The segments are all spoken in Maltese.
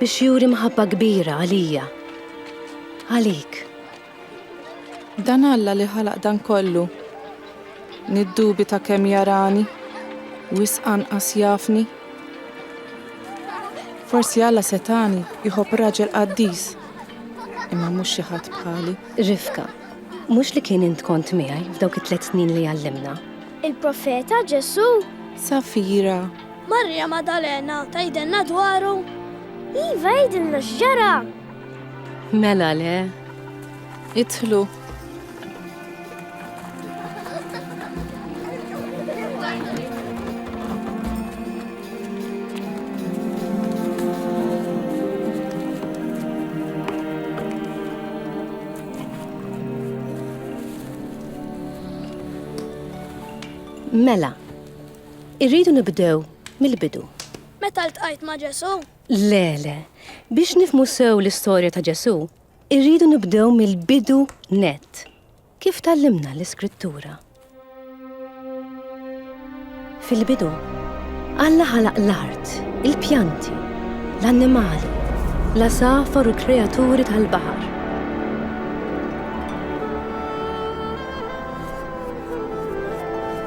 biex juri mħabba kbira għalija, għalik. Dan Alla li ħalaq dan kollu, niddubita kemm jarani, wisq anqas jafni. Forsi Alla setani jħobb raġel qaddis, imma mhux xi ħadd bħali. Rifka, mhux li kien int kont miegħi f'dawk it-tliet snin li għallimna. Il-profeta Ġesù. Safira, Marija Maddalena tgħidilna dwaru? Iva għidilna x'ġara! Mela le, idħlu. Mela, Irridu nibdew mill-bidu. Meta ltqajt ma' Ġesù? Le, le. Biex nifhmu sew l-istorja ta' Ġesù, irridu nibdew mill-bidu nett. Kif tgħallimna l-Iskrittura? Fil-bidu, Alla ħalaq l-art, il-pjanti, l-annimali, l-għasafar u l-kreaturi tal-baħar.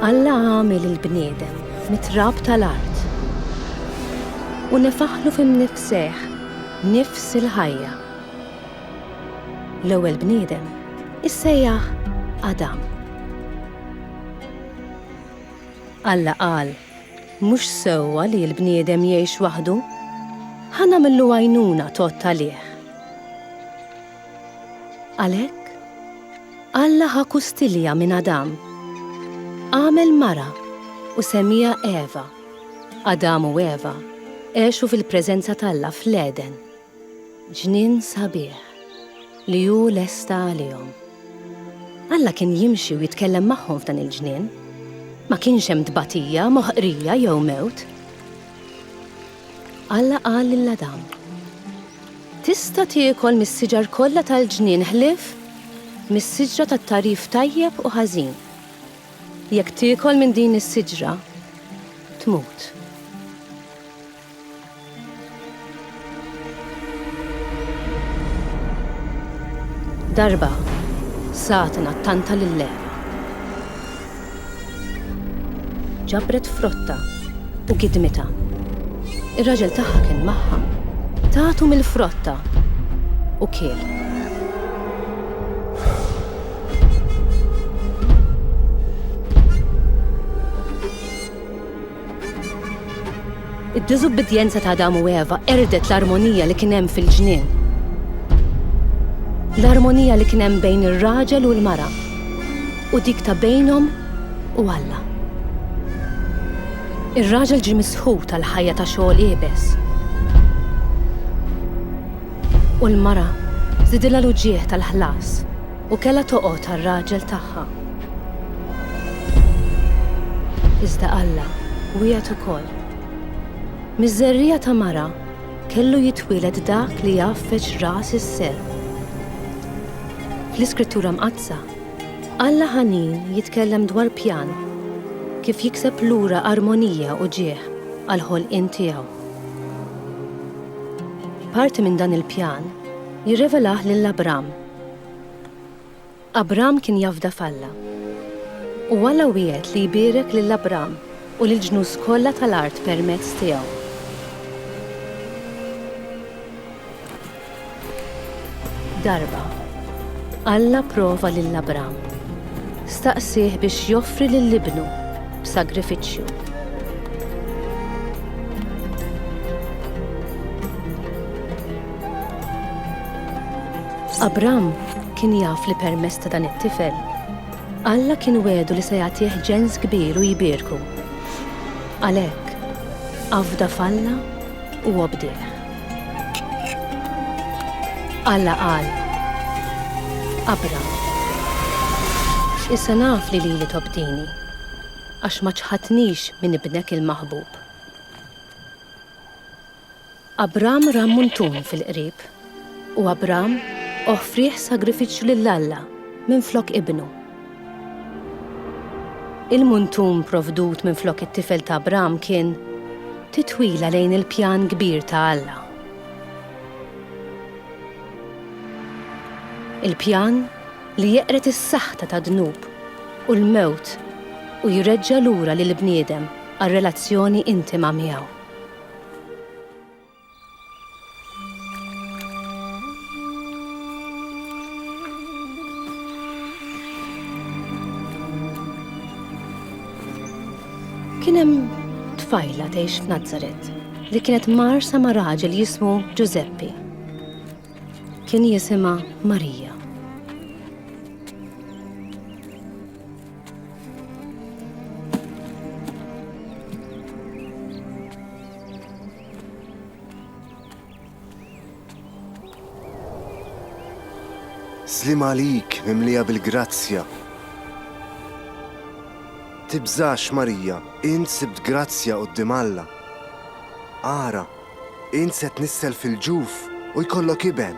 Alla għamel il-bniedem mit-trab tal-art u nefaħlu fi mnifsejh nifs il-ħajja. L-ewwel bniedem issejjaħ Adam. Alla qal, Mhux sewwa li l-bniedem jgħix waħdu. Ħa nagħmillu għajnuna tgħodd għalih. Għalhekk, Alla ħa kustilja minn Adam. Għamel mara u semmiha Eva. Adam u Eva għexu fil-preżenza t'Alla fl-Għeden, ġnien sabiħ li hu lesta għalihom. Alla kien jimxi u jitkellem magħhom f'dan il-ġnien. Ma kienx hemm tbatija, moħqrija jew mewt. Alla qal lil Adam, Tista' tiekol mis-siġar kollha tal-ġnien ħlief mis-siġra tat-tagħrif tajjeb u ħażin. Jekk tiekol minn din is-siġra, tmut. Darba, Satana ttanta lil Ewa. Ġabret frottha u gidmitha. Ir-raġel tagħha kien magħha. Tatu mill-frotta u kiel. Id-diżubbidjenza ta' Adam u Eva qerdet l-armonija li kien hemm fil-ġnien. L-armonija li kien hemm bejn ir-raġel u l-mara u dik ta' bejnhom u Alla. Ir-raġel ġie misħut għal ħajja ta' xogħol iebes. U l-mara żidilha l-uġigħ tal-ħlas. U kellha toqgħod għar-raġel tagħha. Iżda Alla wiegħed ukoll. Miż-żerriegħa ta' mara kellu jitwieled dak li jgħaffeġ ras is-serp. Fl-Iskrittura Mqaddsa, Alla ħanin jitkellem dwar pjan kif jikseb lura armonija u ġieħ għal ħolqien tiegħu. Parti minn dan il-pjan jirrevelah lil Abram Abram kien jafda f'Alla. U Alla wiegħed li jbierek lil Abram u lill-ġnus kollha tal-art permezz tiegħu. Darba, Alla prova lil Abram. Staqsieh biex joffri lil ibnu b'sagrifiċċju. Abram kien jaf li permezz ta' dan it-tifel, Alla kien wegħdu li se jagħtih ġens kbir u jbierku. Għalhekk, afda f'Alla u obdih. Alla qal, Abram, issa naf li lili tobdini, għax ma ċħadtnix minn ibnek il-maħbub. Abram ra muntun fil-qrib, u Abram offrih sagrifiċċju lil Alla minflok ibnu. Il-muntun provdut minflok it-tifel ta' Abram kien titwila lejn il-pjan kbir ta' Alla. Il-pjan li jeqred is-saħta tad-dnub u l-mewt u jreġġa' lura lill-bniedem għar-relazzjoni intima miegħu. Kien hemm tfajla tgħix f'Nazaret li kienet marsa ma' raġel jismu Giuseppe. Kien jisimha Marija. Slim għalik mimlija bil-grazzja. Tibżax Marija, int sibt grazzja qoddim Alla. Ara, int se tnissel fil-ġuf u jkollok iben.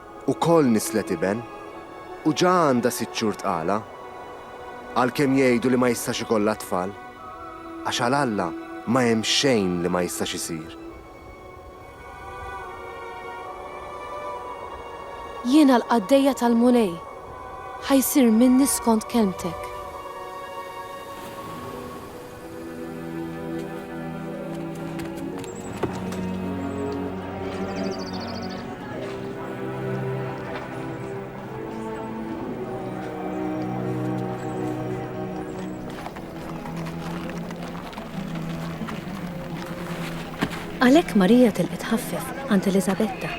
ukoll nisslet iben u ġa għandha sitt xhur tqala. Għalkemm jgħidu li ma jistax ikollha tfal, għax għal Alla ma hemm xejn li ma jistax isir. Jiena l-qaddejja tal-Mulej, ħa jsir minni skont kelmtek. Għalhekk Marija tilqet ħaffef għand Eliżabetta.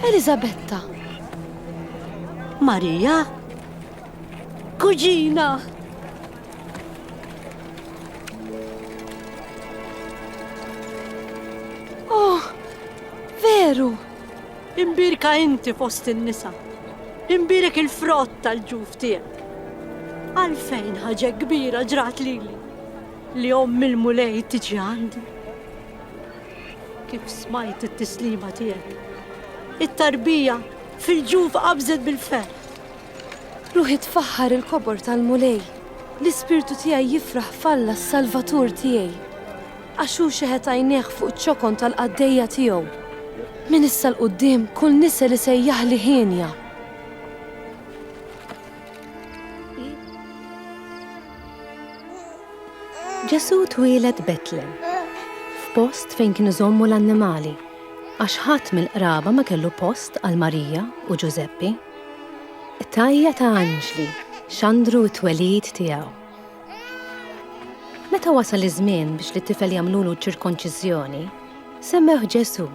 Eliżabetta, Marija? Kuġina! Oh, veru! Imbirka inti fost in-nisa. Imbirek il-frott tal-ġuf tiegħek. Għalfejn ħaġa kbira ġrat lili li omm il-mulej tiġi għandi. Kif smajt it-tislima tiegħek. It-tarbija fil-ġuf qabżet bil-ferħ. Ruħi tfaħħar il-kobor tal-Mulej. L-ispirtu tiegħi jifraħ f'Alla s-Salvatur tiegħi. Għax hu xeħet għajnejh fuq iċ-ċokon tal-qaddejja tiegħu. Minn issa 'l quddiem kull nisel isejjaħli hienja. Ġesù twieled Betlem, f'post fejn kienu jżommu l-annimali, għax ħadd mill-qraba ma kellu post għal Marija u Ġużeppi. Qtajja' ta' anġli xandru t-twelid tiegħu. Meta wasal iż-żmien biex lit-tifel jagħmlulu ċ-ċirkonċiżjoni, semmewh Ġesù.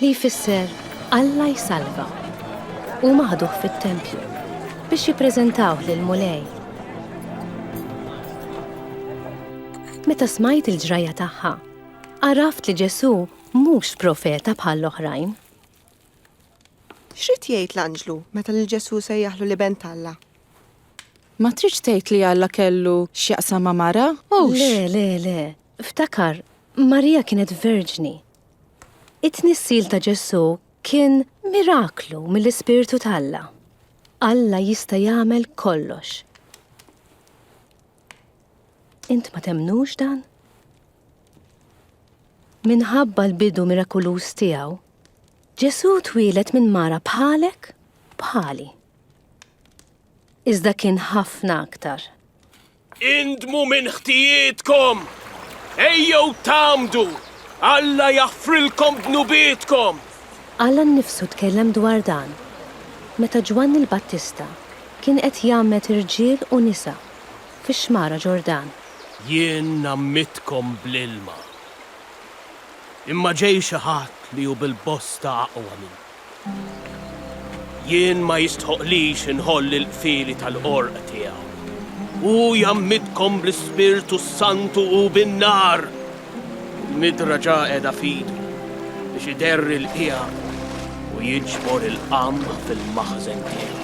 li jfisser Alla jsalva. Huma ħaduh fit-tempju biex jippreżentawh lill-Mulej. Meta smajt il-ġrajja tagħha, għaraft li Ġesù mhux profeta bħall-oħrajn. X'rid jgħid l-anġlu meta lil Ġesù sejjaħlu l-Iben t'Alla? Ma tridx tgħid li Alla kellu x'jaqsam ma' mara? Hux! Le, le, le. Ftakar, Marija kienet verġni. It-tnissil ta' Ġesù kien miraklu mill-Ispirtu t'Alla. Alla jista' jagħmel kollox. Int ma temnux dan? Minħabba l-bidu mirakuluż tiegħu, Ġesù twieled minn mara bħalek bħali. Iżda kien ħafna aktar. Indmu minn ħtijietkom, ejjew tgħammdu, Alla jaħfrilkom dnubietkom. Alla nnifsu tkellem dwar dan meta Ġwanni l-Battista kien qed jgħammed irġiel u nisa fix-xmara Ġordan. Jien ngħammittkom bl-ilma, imma ġej xi ħadd li hu bil-bosta aqwa minni. Jien ma jistħoqqlix inħoll il-qfieli tal-qorq tiegħu. Hu jgħammidkom bl-Ispirtu s-Santu u bin-nar. Il-midra ġa qiegħda f'idu biex iderri l-qiegħa u jiġbor il-qamħ fil-maħżen tiegħu.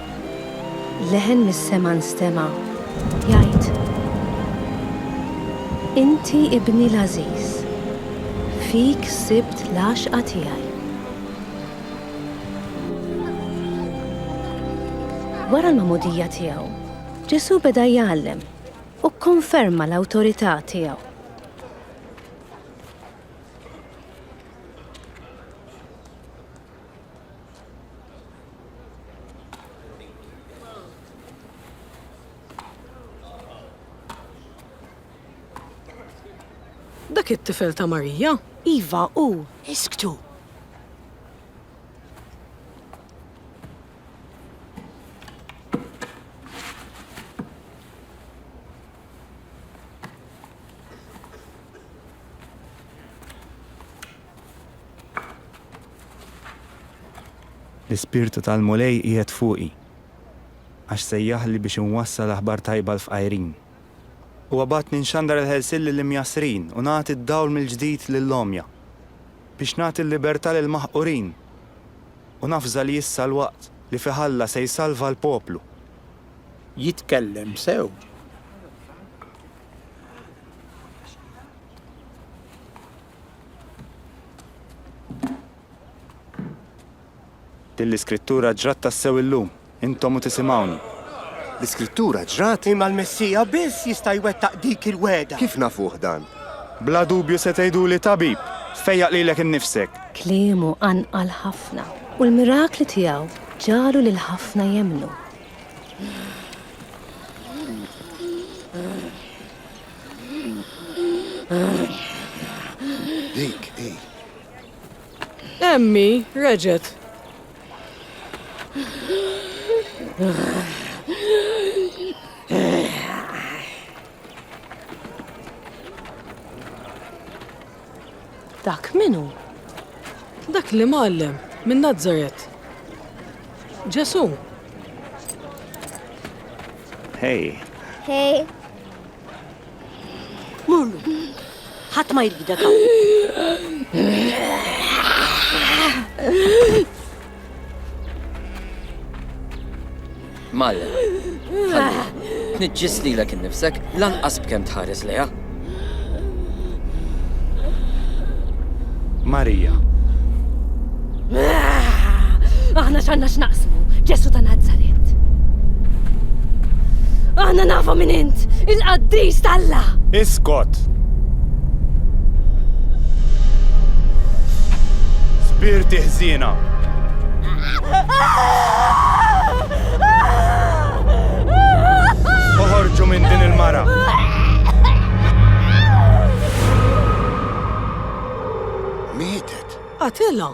Leħen mis-sema nstema' jgħid, Inti Ibni l-għażiż, fik sibt l-għaxqa tiegħi. Wara l-magħmudija tiegħu, Ġesù beda jgħallem u kkonferma l-awtorità tiegħu. Dak it-tifel ta' Marija? Iva, hu. Isktu! L-Ispirtu tal-Mulej qiegħed fuqi, għax sejjaħli biex inwassal aħbar tajba l-fqajrin. Huwa bagħatni nxandar il-ħelsien lill-imjassrin u nagħti d-dawl mill-ġdid lill-għomja, biex nagħti l-libertà lill-maħqurin. U nafża li issa l-waqt li fih Alla se jsalva l-poplu. Jitkellem sew. Din l-Iskrittura ġrat tassew illum, intom u tisimgħuni. L-Iskrittura ġrat? Imma l-Messija biss jista' jwettaq dik il-wegħda. Kif nafuh dan? Bla dubju se tgħiduli, Tabib, fejjaq lilek innifsek! Kliemu qanqal ħafna, u l-mirakli tiegħu ġagħlu lil ħafna jemmnu. Dik hi. Emmi reġet. Dak min hu? Dak l-Imgħallem minn Nazaret. Ġesù. Hej. Hej. Murlu. Ħadd ma jridek hawn. Malla, ħalli, tniġġis lilek innifsek lanqas b'kemm tħares lejha. Marija. Aħna x'għandna x'naqsmu, Ġesu ta' Nazaret. Aħna nafu minn int, il-qaddis talla. Iskot! Spirti ħżiena. Uħorġu minn din il-mara. Mietet. Atilla.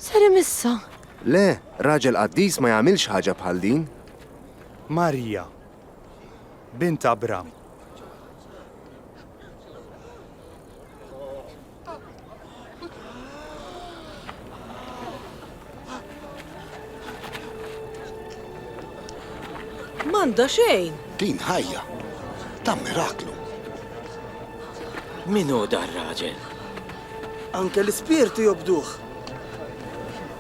Ser imissa. Le, raġel qaddis ma jagħmilx ħaġa bħal din. Marija. bint Abram. Manda xejn. Din ħajja. Ta' miraklu. Minu dar raġel? Anke l-ispirtu jobduħ.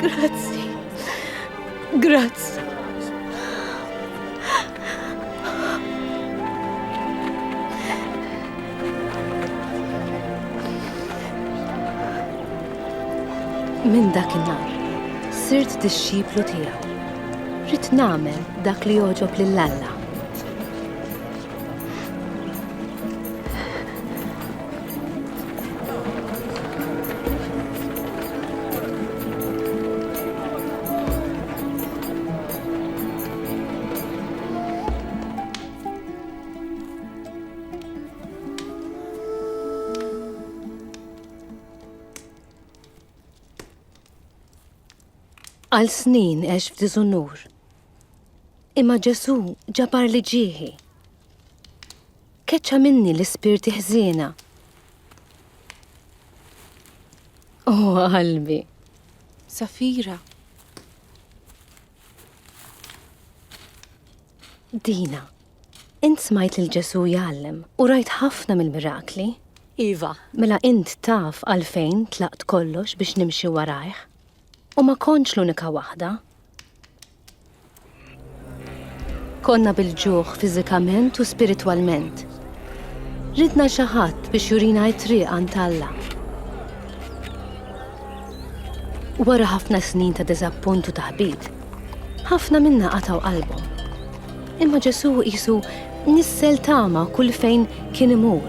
Grazzi. Grazzi. Minn dak in-nar, sirt dixxiplu tiegħu. Rid nagħmel dak li joġob lil Alla. Għal snin għex f'diżunur. Imma Ġesù ġabar li ġieħi. Keċċa minni l-ispirti ħżiena. Oh, qalbi. Safira. Dina, int smajt lil Ġesù jgħallem u rajt ħafna mill-mirakli. Iva. Mela int taf għalfejn tlaqt kollox biex nimxi warajh. U ma kontx l-unika waħda. Konna bil-ġuħ fiżikament u spiritwalment. Ridna xi ħadd biex jurina t-triq għand Alla. Wara ħafna snin ta' diżappunt u taħbit, ħafna minna qataw qalbhom. Imma Ġesu qisu nissel tama kull fejn kien imur.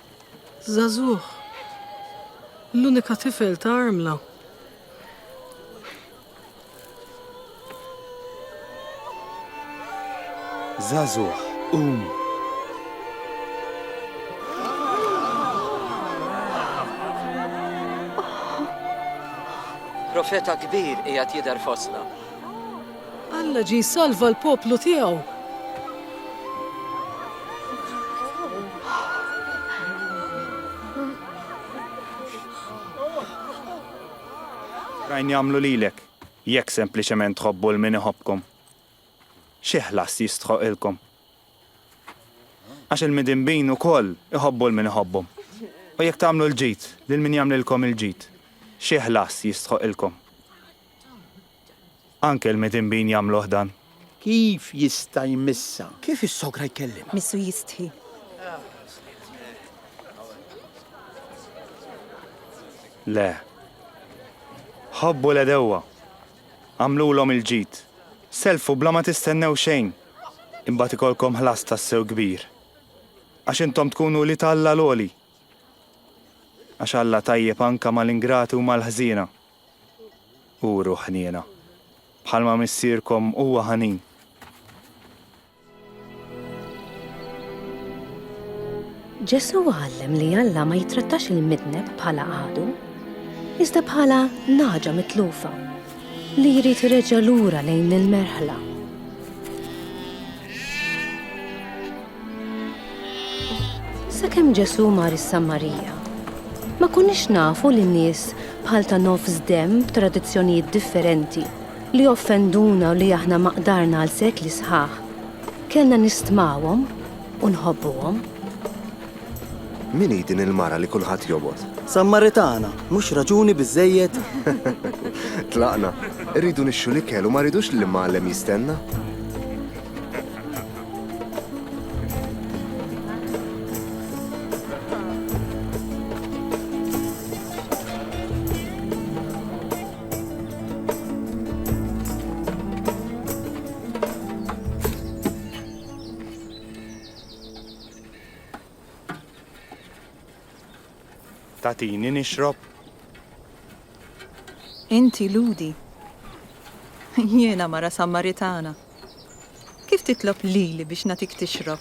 Żagħżugħ, l-unika tifel ta' armla. Żagħżugħ, qum! Profeta kbir qiegħed jidher fostna. Alla ġie jsalva l-poplu tiegħu. Oħrajn jagħmlu lilek. Jekk sempliċement tħobbu 'l min iħobbkom, xi ħlas jistħoqqilkom? Għax il-midinbin ukoll iħobbu 'l min iħobbhom. U jekk tagħmlu l-ġid lil min jagħmlilkom il-ġid, xi ħlas jistħoqqilkom? Anke l-midinbin jagħmluh dan. Kif jista' jmissha? Kif is-sogra jkellimha? Missu jistħi. Le. Ħobbu l-għedewwa. Agħmlulhom il-ġid. Sellfu bla ma tistennew xejn. Imbagħad ikollkom ħlas tassew kbir. Għax intom tkunu wlied Alla l-Għoli. Għax Alla tajjeb anke mal-ingrati u mal-ħżiena. Uru ħniena, bħalma Missierkom huwa ħanin. Ġesù għallem li Alla ma jittrattax il-midneb bħala għadu, iżda bħala naġa mitlufa li jrid ireġa' lura lejn il-merħla. Sakemm Ġesù mar is-Sammarija, ma kunniex nafu li nies bħal ta' nofs demm b'tradizzjonijiet differenti li offenduna u li aħna ma qdarna għal sekli sħaħ, kellna nistmawhom u nħobbuhom. Min hi din il-mara li kulħadd jobgħod? Sammaritana, mhux raġuni biżżejjed? Tlaqna. Irridu nixxu l-ikel u ma rridux li l-imgħallem jistenna. Tatini nixrob? Inti Ludi. Jiena mara Sammaritana. Kif titlob lili biex nagħtik tixrob?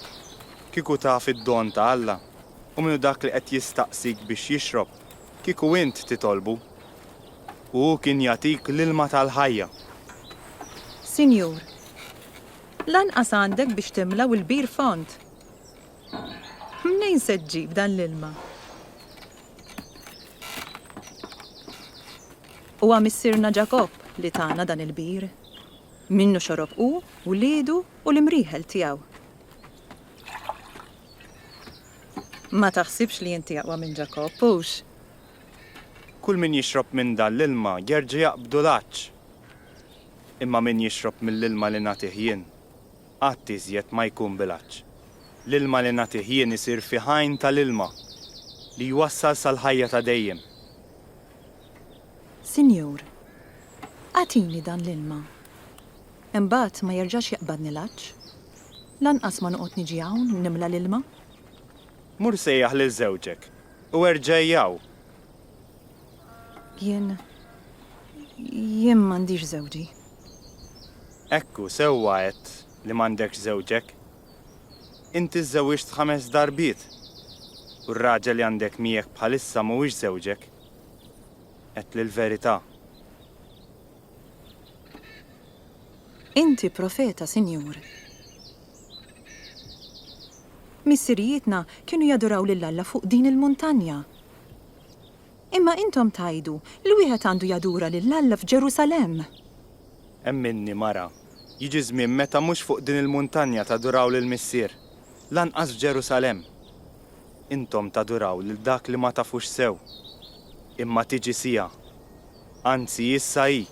Kieku taf id-don ta' Alla u min hu dak li qed jistaqsik biex jixrob, kieku int titolbu, u hu kien jagħtik l-ilma tal-ħajja. Sinjur, lanqas għandek biex timla' u l-bir fond. Mnejn se ġġib dan l-ilma? Huwa missierna Ġakobb li tana dan il-bir. Minnu xorob hu, wliedu u l-imrieħel tiegħu. Ma taħsibx li inti aqwa minn Ġakobb, hux? Kull min jixrob minn dan l-ilma jerġa' jaqbdu l-għatx. Imma min jixrob mill-ilma li nagħtih jien, qatt iżjed ma jkun bil-għatx. L-ilma li nagħtih jien isir fih għajn ta' l-ilma li jwassal sal-ħajja ta' dejjem. Sinjur, agħtini dan l-ilma. Imbagħad ma jerġax jaqbadni l-għatx. Lanqas ma noqgħod niġi hawn u nimla l-ilma. Mur sejjaħ lil żewġek u erġa'i hawn. Jien, jien m'għandix żewġi. Ekku, sewwa għedt li m'għandekx żewġek, Inti żżewwiġt ħames darbiet, u r-raġel li għandek miegħek bħalissa mhuwiex żewġek. Għedtli l-verità. Inti profeta, Sinjur. Missirijietna kienu jaduraw lil Alla fuq din il-muntanja. Imma intom tgħidu li wieħed għandu jadura lil Alla f'Ġerusalemm! Emminni, mara, jiġi żmien meta mhux fuq din il-muntanja taduraw lill-Missier, lanqas f'Ġerusalemm. Intom taduraw lil dak li ma tafux sew. Imma tiġi siegħa, anzi issa hi,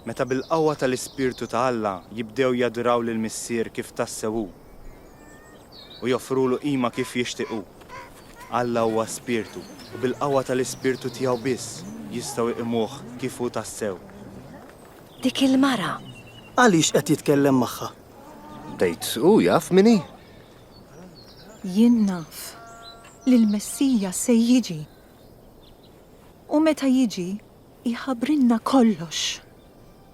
meta bil-qawwa tal-Ispirtu ta' Alla jibdew jaduraw lill-Missier kif tassew hu. u joffrulu qima kif jixtieq hu. Alla huwa Spirtu u bil-qawwa tal-Ispirtu tiegħu biss jistgħu jqimuh kif hu tassew. Dik il-mara! Għaliex qed jitkellem magħha? Tgħid hu jaf min hi? Jien naf li l-Messija se jiġi. U meta jiġi, jħabbrilna kollox.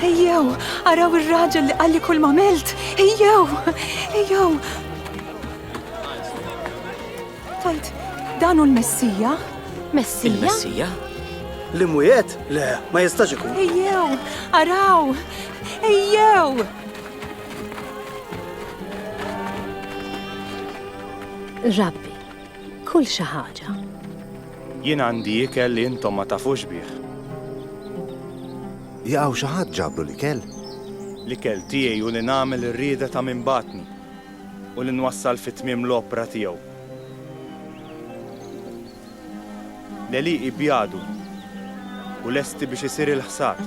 Ejjew, araw ir-raġel li qalli kull ma milt. Ejjew, ejjew. Tajt, dan hu l-Messija? Messija? Il-Messija? Li mwiet? Le, ma jistax ikun. Ejjew, araw, ejjew. Rabbi, Kul xi ħaġa. Jien għandi ikel li intom ma tafux bih. Jaqgħu xi ħadd ġablu l-ikel? L-ikel tiegħi hu li nagħmel ir-rieda ta' min bagħatni u li nwassal fi tmiem l-opra tiegħu. L-għelieqi bjadu u lesti biex isir il-ħsad.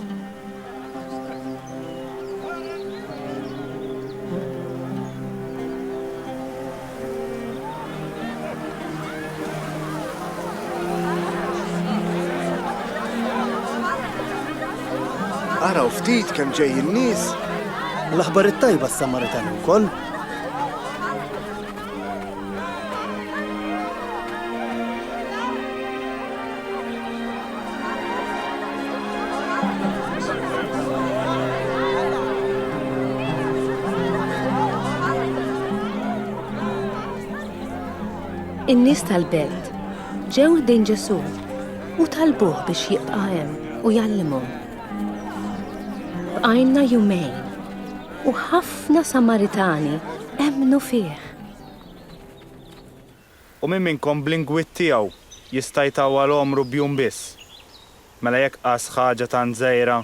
Araw ftit kemm ġejjin nies. L-aħbar it-tajba s-Samaritan ukoll. In-nies tal-belt ġew ħdejn Ġesù u talbuh biex jibqa' hemm u jgħallimhom. Bqajna jumejn. U ħafna Samaritani emmnu fih. U min minnkom bl-ingwid tiegħu jista' jtawwal għomru b'jum biss? Mela jekk qas ħaġa tant żgħira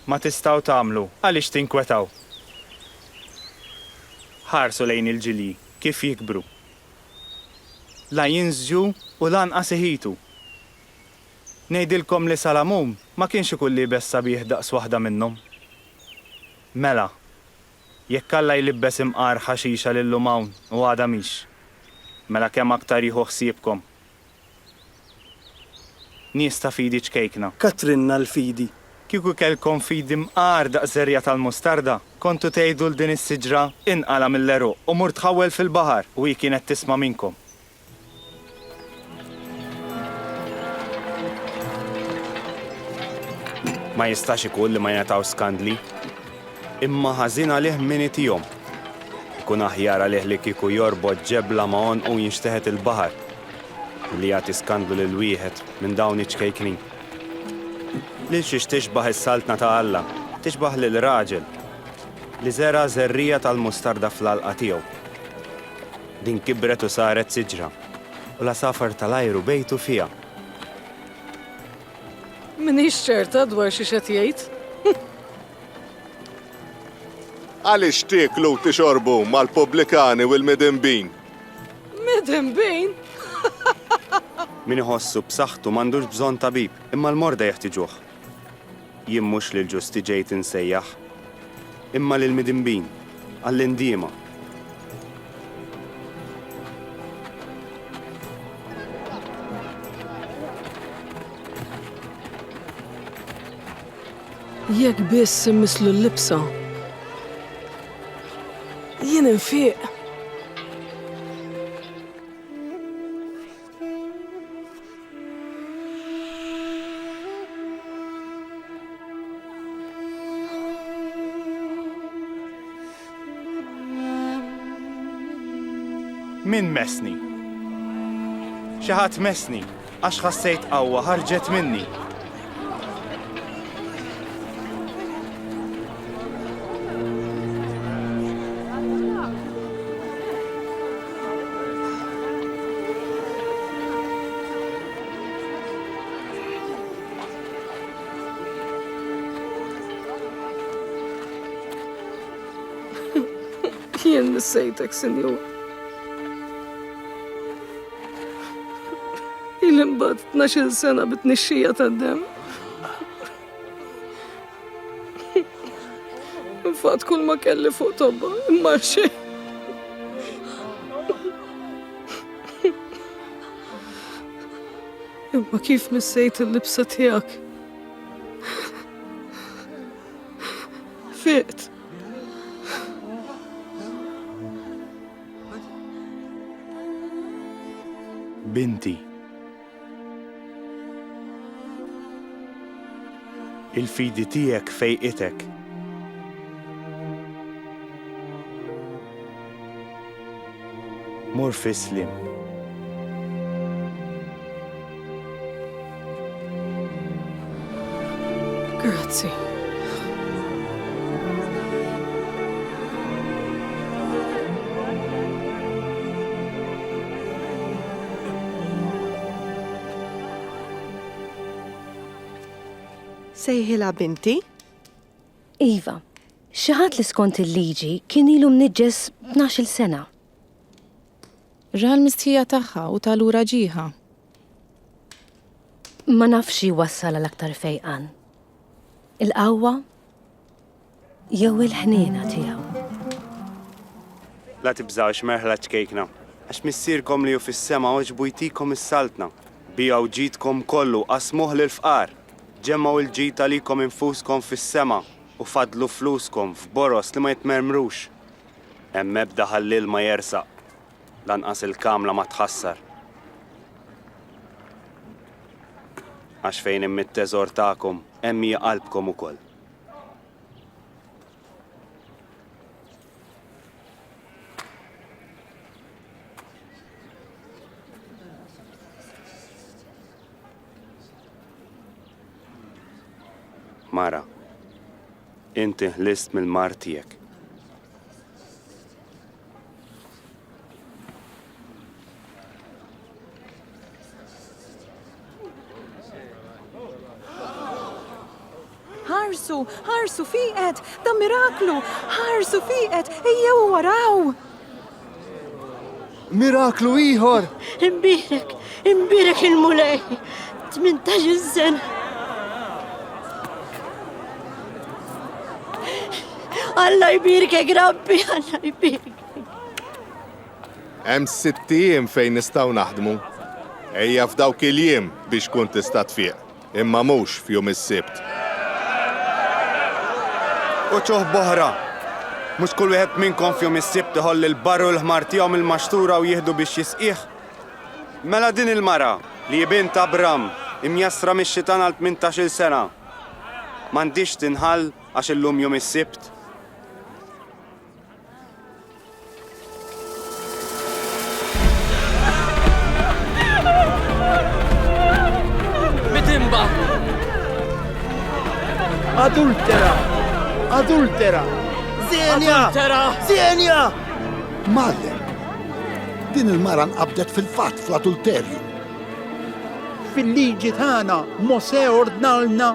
ma tistgħu tagħmlu, għaliex tinkwetaw? Ħarsu lejn il-ġilji kif jikbru. La jinżġu u lanqas iħitu. Ngħidilkom li Salamun ma kienx ikun liebes sabiħ daqs waħda minnhom. Mela, jekk Alla jlibbes imqar ħaxixa l-illum hawn u għada mhix, mela kemm aktar jieħu ħsiebkom. Nies ta' fidi ċkejkna. Katrinna l-fidi. Kieku kellkom fidi mqar daqs żerriegħa tal-mustarda, kontu tgħidu 'l din is-siġra, 'Inqala' mill-għeruq u mur tħawwel fil-baħar u hi kienet tisma' minnkom. Ma jistax ikun li ma jingħataw skandli. Imma ħażin għalih min itihom. Ikun aħjar għalih li kieku jorbot ġebla ma' għonqu jinxteħet il-baħar milli jagħti skandlu lil wieħed minn dawn iċ-ċkejknin. Lil xiex tixbah is-Saltna ta' Alla? Tixbah lil raġel li żera' żerriegħa tal-mustarda fl-għalqa tiegħu. Din kibret u saret siġra. U l-għasafar tal-ajru bejtu fiha. M'iniex ċerta dwar xiex qed jgħid. Għaliex tieklu u tixorbu mal-pubblikani u l-midinbin? Midinbin? Min iħossu b'saħħtu m'għandux bżonn tabib, imma l-morda jeħtiġuh. Jien mhux lill-ġusti ġejt insejjaħ, imma lill-midinbin, għall-indiema. Jekk biss immisslu l-libsa. Jien infiq. Min mesni? Xi ħadd mesni għax ħassejt qawwa ħarġet minni. Jien nissejtek, Sinjur. Il-imbad 12 sena bit-nixxija tad-dem. Infat kull ma kelli fuq tobba, imma xejn. Imma kif missejt il-libsa tiegħek? Fiqt. Binti. Il-fidi tiegħek fejqitek. Mor fislim. Grazzi. Sejħila binti? Iva, xaħat li skont il-liġi kien ilu mniġġes 12 sena. Ra l-mistħija tagħha u ta lura ġieħha. Ma nafx xi jwassal għal aktar fejqan. Il-qawwa jew il-ħniena tiegħu. La tibżgħux, merħla ċkejkna, għax Missierkom li hu fis-sema għoġbu jtikom is-saltna. Biegħu ġidkom kollu, qasmuh lill-fqar. Ġemmgħu l-ġid għalikom infuskom fis-sema u faddlu fluskom f'boroż li ma jitmermrux. Hemm ebda ħalliel ma jersaq, lanqas il-kamla ma tħassar. Għax fejn hemm it-teżor tagħkom, hemm hi qalbkom ukoll. Mara. Inti ħlist mill-mard tiegħek. Ħarsu, ħarsu fiqet, da miraklu, ħarsu fiqet, ejjew waraw! Miraklu ieħor! Imbirek, imbirek il-mulej, 18 sen. Alla jbirkek, rabbi, alla jbirkek. Hemm sitt ijiem fejn nistgħu naħdmu. Ejja f'dawk il-jiem biex kun tista' tfiq. imma mhux f'jum is-Sibt. Uċuh b'oħra, Mhux kull wieħed minnkom f'jum is-Sibt iħoll il-barr u l-ħmar tiegħu mill-maxtura u jieħdu biex jisqih? Mela din il-mara, li hi bint Abram, imjassra mix-xitan għal tmintax-il sena, m'għandhiex tinħall għax illum jum is-Sibt? Bitimba! Adultera! Adultera! Zenja! Adultera! Zenja! Madre! Din il-mara nqabdet fil-fatt fl-adulterju. Fil-liġi tagħna Mose ordnalna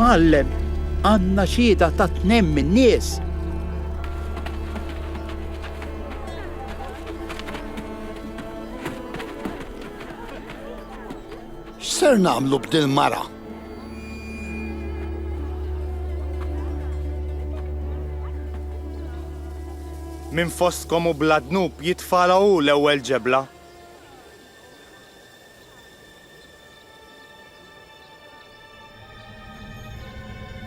Mgħallem, għandna xhieda ta' tnejn min-nies. X'ser nagħmlu b'dil-mara? Min fostkom u bla dnub jitfala hu l-ewwel ġebla.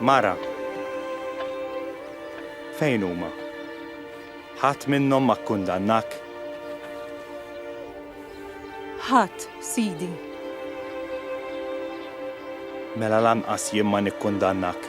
Mara. Fejn huma? Ħadd minnhom ma kkundannak? Ħadd, Sidi. Mela lanqas jien ma nikkundannak.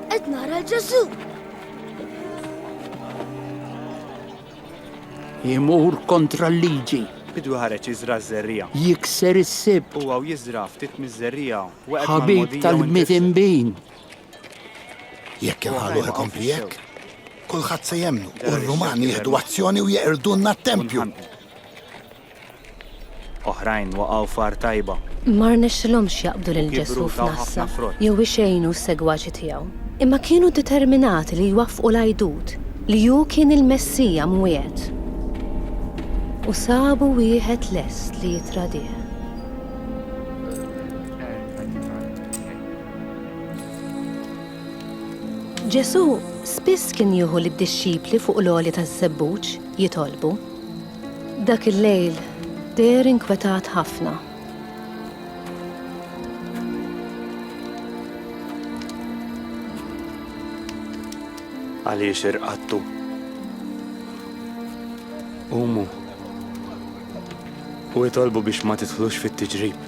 Qed nara l-Ġesu! Imur kontra l-liġi. Bidwi ħareġ jiżra ż-żerrija. Jikser is-sibt. Huwa u jiżra ftit miż-żerrija. Ħabib tal-bniet imbin. Jekk inħalluh ikompli hekk, kulħadd se jemnu u r-Rumani jieħdu azzjoni u jeqrdulna t-tempju. Oħrajn waqgħu f'għar tajba. Ma rnexxilhomx jaqbdu lil Ġesù f'nassa jew ixejnu s-segwaċi tiegħu. Imma kienu determinati li jwaffqu l-għidut li hu kien il-Messija mwiegħed. U sabu wieħed lest li jittradih. Ġesù spiss kien jieħu lid-dixxipli fuq l-għolja taż-żebbuġ jitolbu. Dak il-lejl deher inkwetat ħafna. Għaliex irqattu? Umu. U jitolbu biex ma titħlux fit-tiġrib.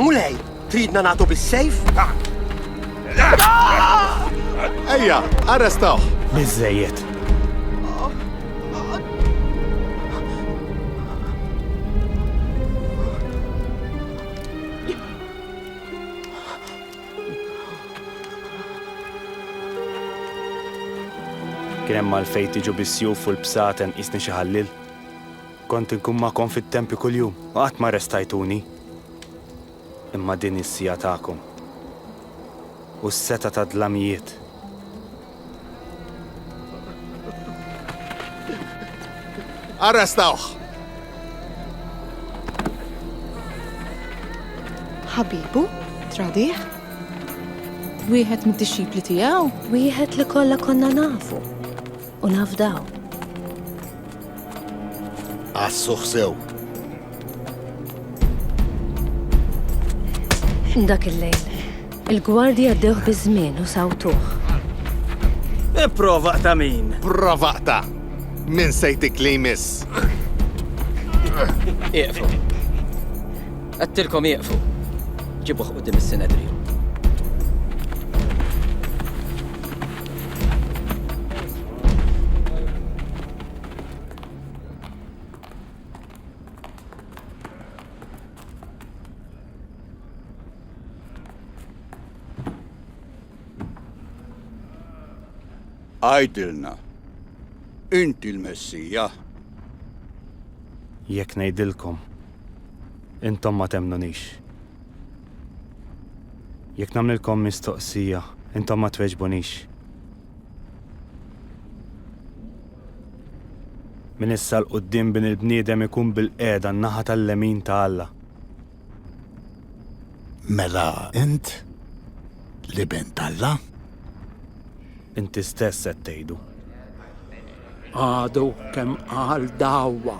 Mulej, tridna nagħtu bis-sejf? Ejja, arrestaw! Biżejjed. Kien hemm għalfejn tiġu bis-sjuf u l-bsaten qisni xi ħallil? Kont inkun magħkom fit-tempju kuljum u qatt ma arrestajtuni. Imma din hi s-siegħa tagħkom u s-setgħa tad-dlamijiet. Arrestawh! Ħabibu? Tradih? Wieħed mid-dixxipli tiegħu? Wieħed li kollha konna nafu. u nafdaw. Għassuħ sew. Dak il-lejl, il-gwardji għaddewh biż-żmien u sawtuh. Ipprova ta' min? Prova ta' min sejtik li jmiss. Iqfu. Għattilkom iqfu. Ġibuħ u dim is-sinedri. Għajdilna, inti l-Messija? Jekk ngħidilkom, intom ma temnunix. Jekk nagħmlilkom mistoqsija, intom ma tweġbunix. Minn issa 'l quddiem Bin il-Bniedem ikun bilqiegħda n-naħa tal-lemin ta' Alla. Mela int l-Iben t'Alla? Inti stess qed tgħidu. Għadu kemm qal dawwa.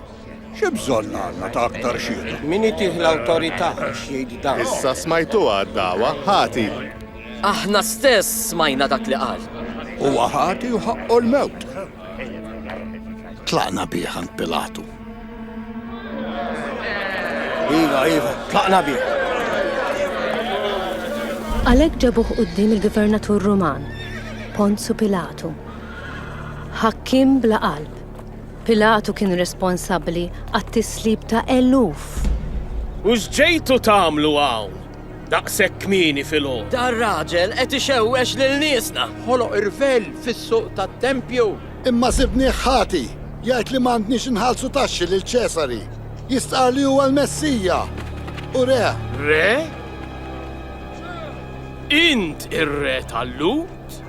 Xi bżonn għandna ta' aktar xhieda? Min itih l-awtorità biex jgħid dan? Issa smajtuha d-dagħwa, ħati. Aħna stess smajna dak li qal. Huwa ħati u ħaqqu l-mewt. Tlaqna bih għand Pilatu. Iva, iva, tlaqna bih. Għalhekk ġabuh quddiem il-gvernatur Ruman, Ponzu Pilatu. Ħakkiem bla qalb. Pilatu kien responsabbli għat-tislib ta' eluf. U x'ġejtu tagħmlu hawn daqshekk kmieni filgħodu? Dar raġel qed ixewwex lil niesna! Ħoloq irvell fis-suq tat-tempju. Imma sibnieh ħati, jgħid li m'għandniex inħallsu taxxi lil Ċesari. Jistqarr li huwa l-Messija u re. Re? Int ir-re tal-Lhud?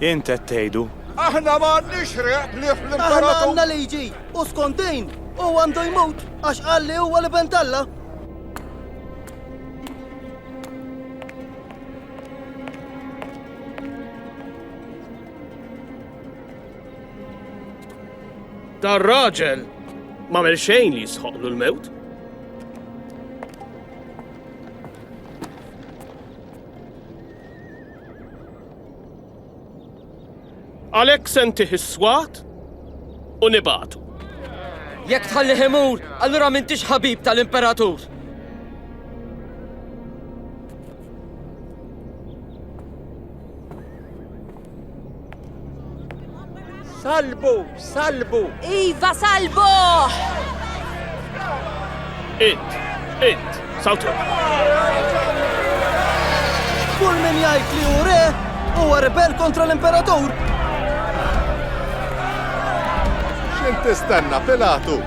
Int qed tgħidu. Aħna ma għandniex riħ b'lief l-Imperatur. Aħna għandna liġi, u skont din, hu għandu jmut għax qal li huwa l-Iben t'Alla. Dar raġel ma mel xejn li jisħoqlu l-mewt. Għalhekk se ntih is-swat u nibagħtu. Jekk tħallih imur, allura m'intix ħabib tal-Imperatur. Salbu, salbu! Iva, salbu! Int, int, sawtu! Kull min jgħid li hu re huwa rebel kontra l-imperatur! X'int tistenna, Pilatu?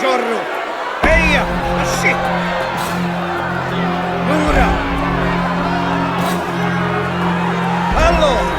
Ġorru! Ejja! Xit! Lura! Allo!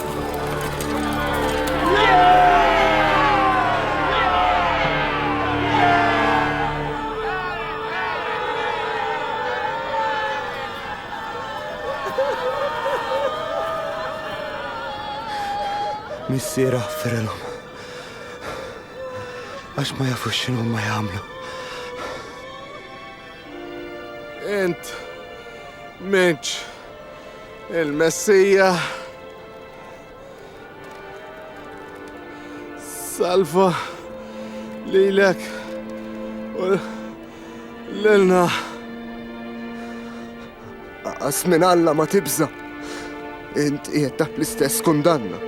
Missier ħaffirilhom. Għax ma jafux x'inhu ma jagħmlu. Int, minċ, Il-Messija salva lilek u lilna. Aqas minn Alla ma tibża. Int qiegħed taħt l-istess kundanna.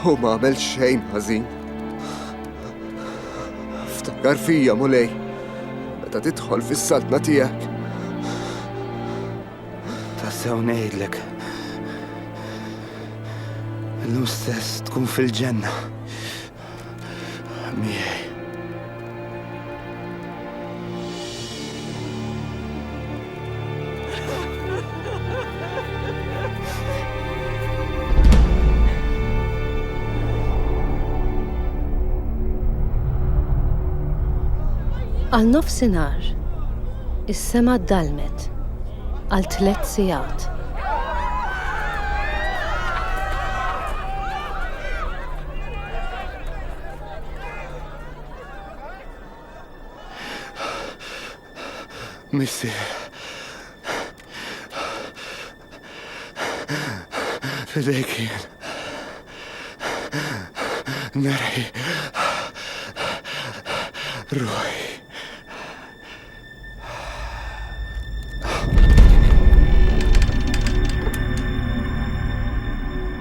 U ma għamel xejn ħażin. Ftakar fija mulej, meta tidħol fis-saltna tiegħek. Tassew ngħidlek. Illum stess tkun fil-ġenna. Miegħi. Għal nofsinhar, is-sema dalmet għal tliet sigħat. Missier. Fidejk jien. Nerħi. Ruħi.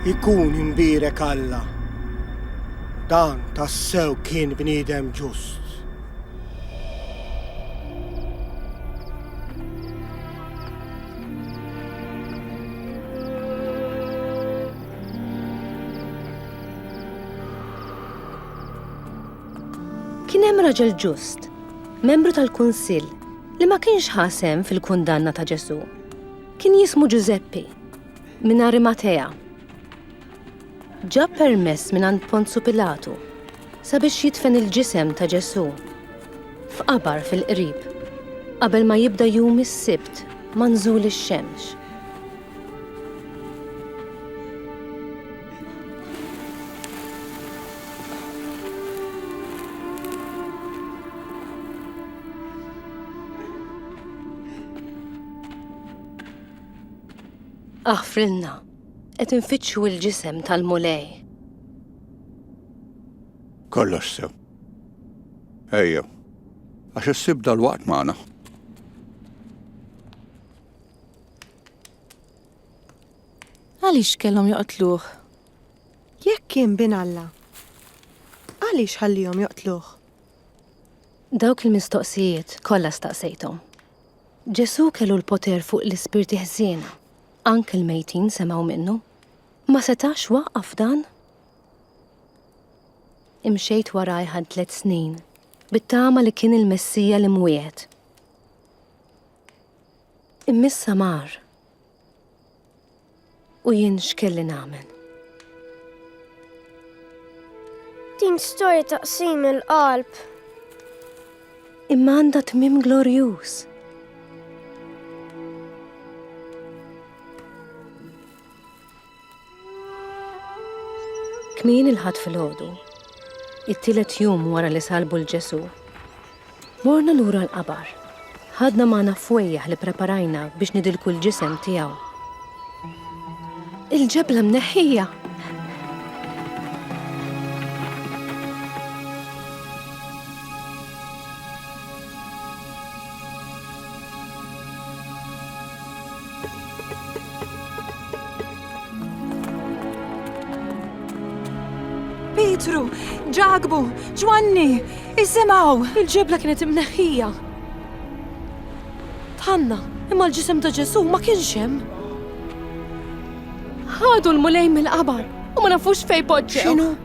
Ikun imbirek Alla. Dan tassew kien bniedem ġust. Kien hemm raġel ġust membru tal-Kunsill li ma kienx ħa sehem fil-kundanna ta' Ġesù, kien jismu Ġużeppi minn Arimatea. Ġab permess mingħand Ponzu Pilatu sabiex jidfen il-ġisem ta' Ġesù f'qabar fil-qrib qabel ma jibda jum is-Sibt manżul ix-xemx. Aħfrilna, qed infittxu l-ġisem tal-mulej. Kollox sew. Ejja, għax issib dal-waqt magħna. Għaliex kellhom joqtluh? Jekk kien bin Alla, għaliex ħallihom joqtluh? Dawk il-mistoqsijiet kollha staqsejthom. Ġesù kellu l-poter fuq l-ispirti ħżiena, anke l-mejtin semgħu minnu. Ma setax waqqaf dan? Imxejt warajh għal tliet snin, bit-tama li kien il-Messija li mwiegħed. Immissa mar. U jien x'kelli nagħmel? Din storja ta' qsim il-qalb. Imma għandha tmim glorjuż. Kmini il-Ħadd filgħodu, it-tielet jum wara li salbu l Ġesù, morna lura l-qabar. Ħadna magħna fwejjaħ li preparajna biex nidilku l-ġisem tiegħu. Il-ġebla mneħħija! Pietru, Ġakbu, Ġwanni, isimgħu! Il-ġebla kienet imneħħija. Tħanna, imma l-ġisem ta' Ġesu ma kienx hemm. Ħadu l-mulej mill-qabar u ma nafux fej poġġew. X'inhu?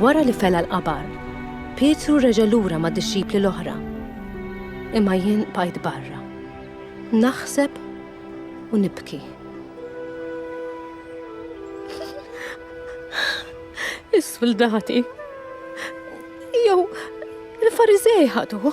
Wara li fela l-qabar, Pietru reġa' lura ma' dixxipli l-oħra. Imma jien bajt barra. Naħseb u nibki. Is-suldati. Jew il-Farizej ħaduh.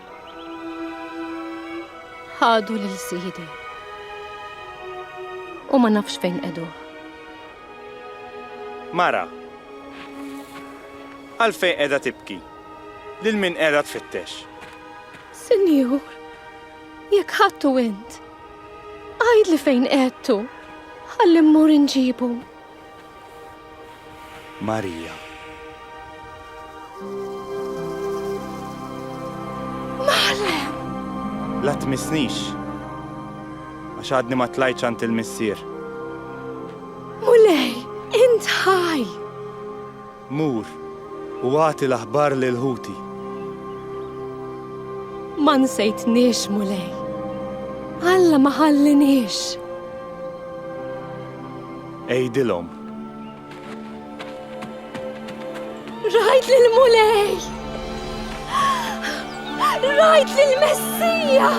Ħadu lil sidi. U ma nafx fejn edu. Mara. Għalfej edha tibki. Lil min edha tfittex. Sinjur, jekk ħattu int. Għajd li fejn edtu. Għallim mur inġibu. Marija. Maħlem! La tmissnix. Għax għadni ma tlajċ għand il-missier. Mulej, int ħaj! Mur u agħti l-aħbar lil ħuti. Ma nsejtniex, Mulej. Alla ma ħalliniex. Għidilhom. Rajt lil Mulej! Rajt lil Messija!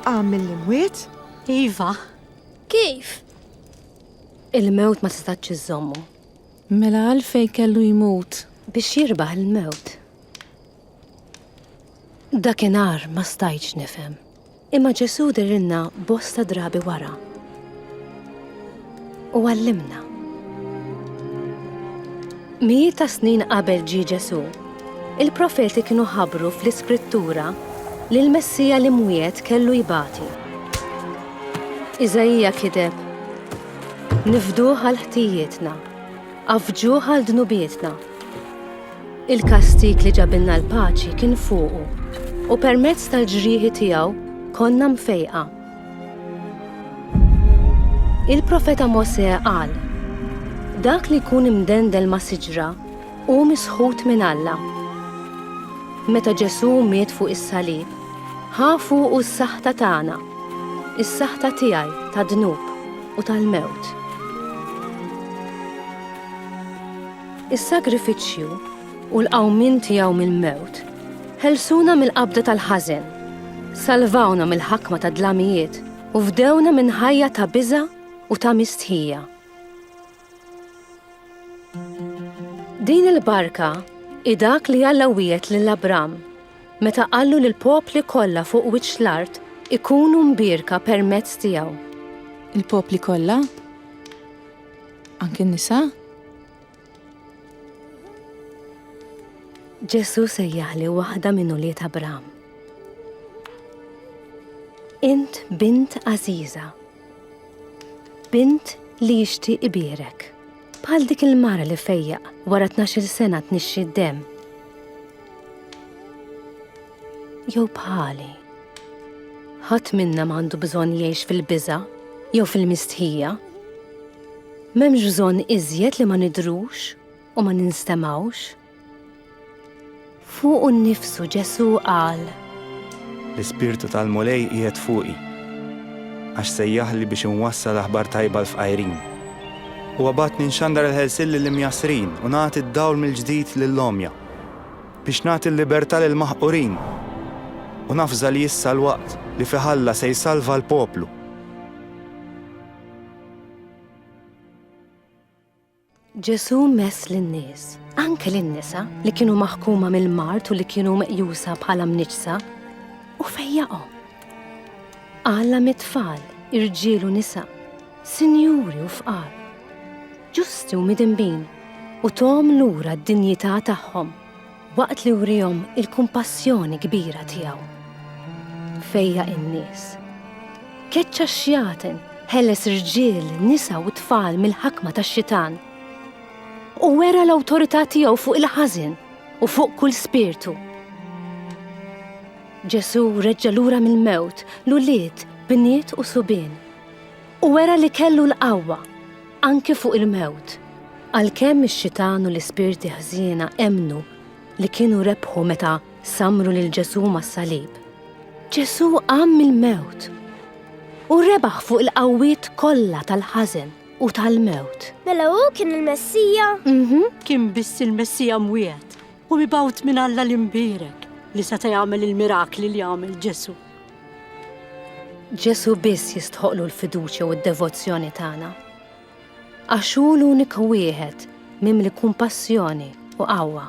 Għam mill-imwiet? Iva. Kif? Il-mewt ma tistax iżommu. Mela għalfejn kellu jmut? Biex jirbaħ il-mewt. Dakinhar ma stajtx nifhem. Imma Ġesu dirilna bosta drabi wara. U għallimna. Mijiet ta' snin qabel ġie Ġesù, il-profeti kienu ħabbru fl-Iskrittura li l-Messija l-imwiegħed kellu jbati. Iżaija kiteb, Nifduh għal ħtijietna, għaffġuh għal dnubietna. Il-kastig li ġabilna l-paċi kien fuqu, u permezz tal-ġrieħi tiegħu konna mfejqa. Il-Profeta Mosè qal, Dak li jkun imdendel ma' siġra hu misħut minn Alla. Meta Ġesù miet fuq is-salib, ħa fuqu s-saħta tagħna, is-saħta tiegħi tad-dnub u tal-mewt. Is-sagrifiċċju u l-qawmien tiegħu mill-mewt. Ħelsuna mill-qabda tal-ħażen, salvawna mill-ħakma tad-dlamijiet u fdewna minn ħajja ta' biża' u ta' mistħija. Din il-barka hi dak li Alla wiegħed lil Abram meta qallu li l-popli kollha fuq wiċċ l-art ikunu mbierka permezz tiegħu. Il-popli kollha? Anki n-nisa? Ġesu sejjaħ li waħda minn ulied Abram. Int bint għażiża. Bint li jixtieq ibirek. Bħal dik il-mara li fejja wara 12 sena tnixxi d-dem. Jew bħali. Ħadd minna m'għandu bżonn jgħix fil-biża' jew fil-mistħija. M'hemmx bżonn iżjed li ma nidhrux u ma ninstemgħux. Fuqu nnifsu Ġesù qal. L-Ispirtu tal-Mulej qiegħed fuqi, għax sejjaħli biex inwassal aħbar tajba l-fqajrin. Huwa bagħatni nxandar il-ħelsien lill-imjassrin u nagħti d-dawl mill-ġdid lill-għomja, biex nagħti l-libertà lill-maħqurin. U nafża li issa l-waqt li fih Alla se jsalva l-poplu. Ġesù mess lin-nies, anke lin-nisa li kienu maħkuma mill-mart u li kienu meqjusa bħala mniċsa, u fejjaqhom. Alla mit-tfal, irġiel u nisa, sinjuri u fqar, ġusti u midinbin, u tom lura d-dinjità tagħhom. Waqt li wriehom il-kumpassjoni kbira tiegħu. Fejjaq in-nies. Keċċa x-xjaten, ħeles rġiel, nisa u tfal mill-ħakma tax-xitan. U wera l-awtorità tiegħu fuq il-ħażin u fuq kull spirtu. Ġesu reġġa lura mill-mewt, l-ulied, bniet u subien. U wera li kellu l-qawwa, anki fuq il-mewt. Għalkemm ix-xitan u l-ispirti ħżiena emmnu li kienu rebħu meta sammru lil Ġesù mas-salib, Ġesù qam mill-mewt u rebaħ fuq il-qawwiet kollha tal-ħażen u tal-mewt. Mela hu kien il-Messija? Mhm. Kien biss il-Messija mwiegħed u mibgħut minn Alla l-Imbierek li seta' jagħmel il-mirakli li għamel Ġesù. Ġesu biss jistħoqlu l-fiduċja u d-devozzjoni tagħna. Għax hu l-uniku wieħed mimli kumpassjoni u qawwa.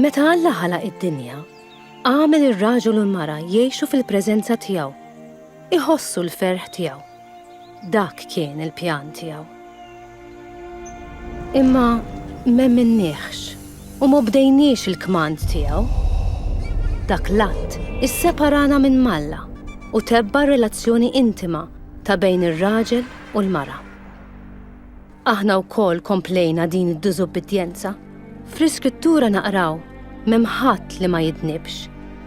Meta Alla ħalaq id-dinja, għamel ir-raġel u l-mara jgħixu fil-preżenza tiegħu, iħossu l-ferħ tiegħu. Dak kien il-pjan tiegħu. Imma m'emminniehx u ma bdejniex il-kmand tiegħu. Dak l-att isseparana minn m'Alla u tebba' r-relazzjoni intima ta' bejn ir-raġel u l-mara. Aħna wkoll komplejna din id-diżubbidjenza. Fl-Iskrittura naqraw, M'hemm ħadd li ma jidnibx.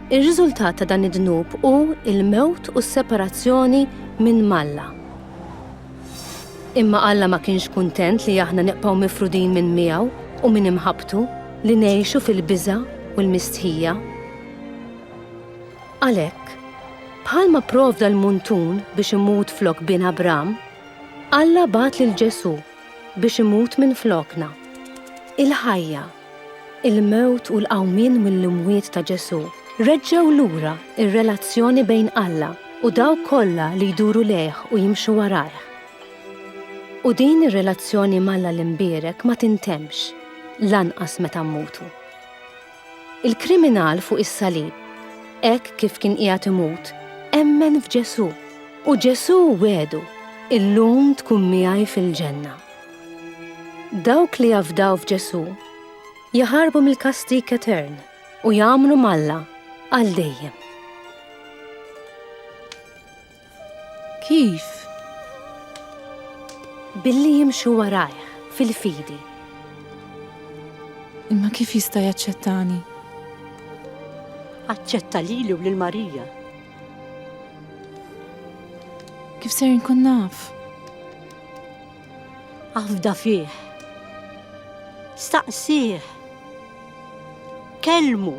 Ir-riżultat ta' dan id-dnub hu l-mewt u s-separazzjoni minn m'Alla. Imma Alla ma kienx kuntent li aħna nibqgħu mifrudin minn miegħu u minn imħabbtu, li ngħixu fil-biża' u l-mistħija. Għalhekk, bħalma pprovda l-muntun biex imut flok bin Abram, Alla bagħat lil Ġesù biex imut minflokna. Il-ħajja, il-mewt u l-qawmien mill-imwiet ta' Ġesù reġġgħu lura r-relazzjoni bejn Alla u dawk kollha li jduru lejh u jimxu warajh. U din ir-relazzjoni m'Alla l-Imbierek ma tintemmx, lanqas meta mmutu. Il-kriminal fuq is-salib, hekk kif kien qiegħed imut, emmen f'Ġesù, u Ġesù wegħdu, Illum tkun miegħi fil-ġenna. Dawk li jafdaw f'Ġesù jaħarbu mill-kastik etern u jagħmlu malla għal dejjem. Kif? Billi jimxu warajh fil-fidi. Imma kif jista' jaċċettani? Aċċetta lili u lil Marija. Kif ser nkun naf? Afda fih. Staqsih. Kelmu.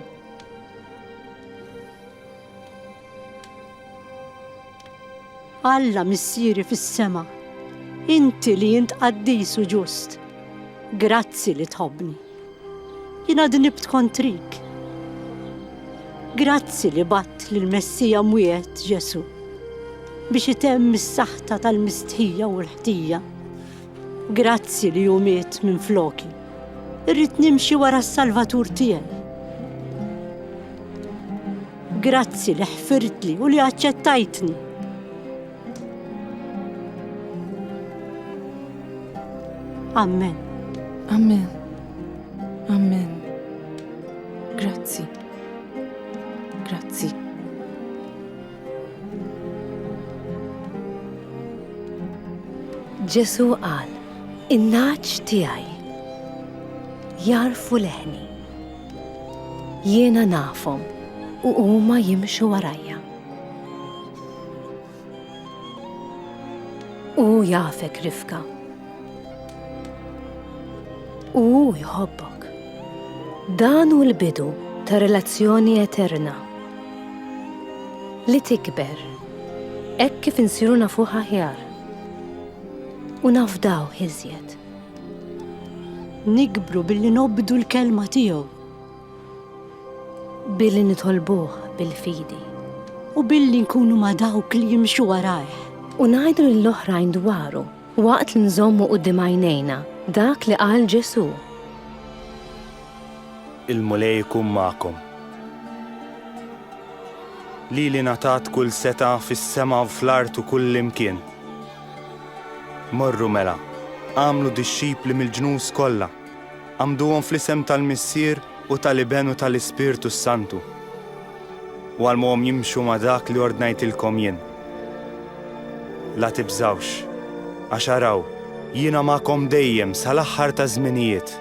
Alla Missieri fis-sema, inti li int qaddis u ġust, grazzi li tħobbni. Jiena dnibt kontrik. Grazzi li batt lil Messija mwiegħed Ġesu biex itemm is-saħta tal-mistħija u l-ħtija. Grazzi li hu miet minn floki. Irrid nimxi wara s-Salvatur tiegħi. Grazzi li ħfirtli u li aċċettajtni. Amen. Amen. Amen. Grazzi. Grazzi. Ġesu qal, in-naċ tiegħi jarfu leħni. Jiena nafhom u huma jimxu warajja. Hu jafek Rifka. U hu jħobbok. Dan hu l-bidu ta' relazzjoni eterna li tikber hekk kif insiru nafuh aħjar u nafdaw iżjed. Nikbru billi nobdu l-kelma tiegħu, billi nitolbuh bil-fidi u billi nkunu ma' dawk li jimxu warajh. U ngħidu lill-oħrajn dwaru waqt li nżommu quddiem għajnejna dak li qal Ġesù. Il-Mulej ikun magħkom. Lili ngħatat kull setgħa fis-sema u fl-art u kullimkien. Morru mela, agħmlu dixxipli mill-ġnus kollha, għammduhom fl-isem tal-Missier u tal-Iben u tal-Ispirtu s-Santu, u għallmuhom jimxu ma' dak li ordnajtilkom jien. La tibżgħux, għax araw, jiena magħkom dejjem sal-aħħar taż-żminijiet.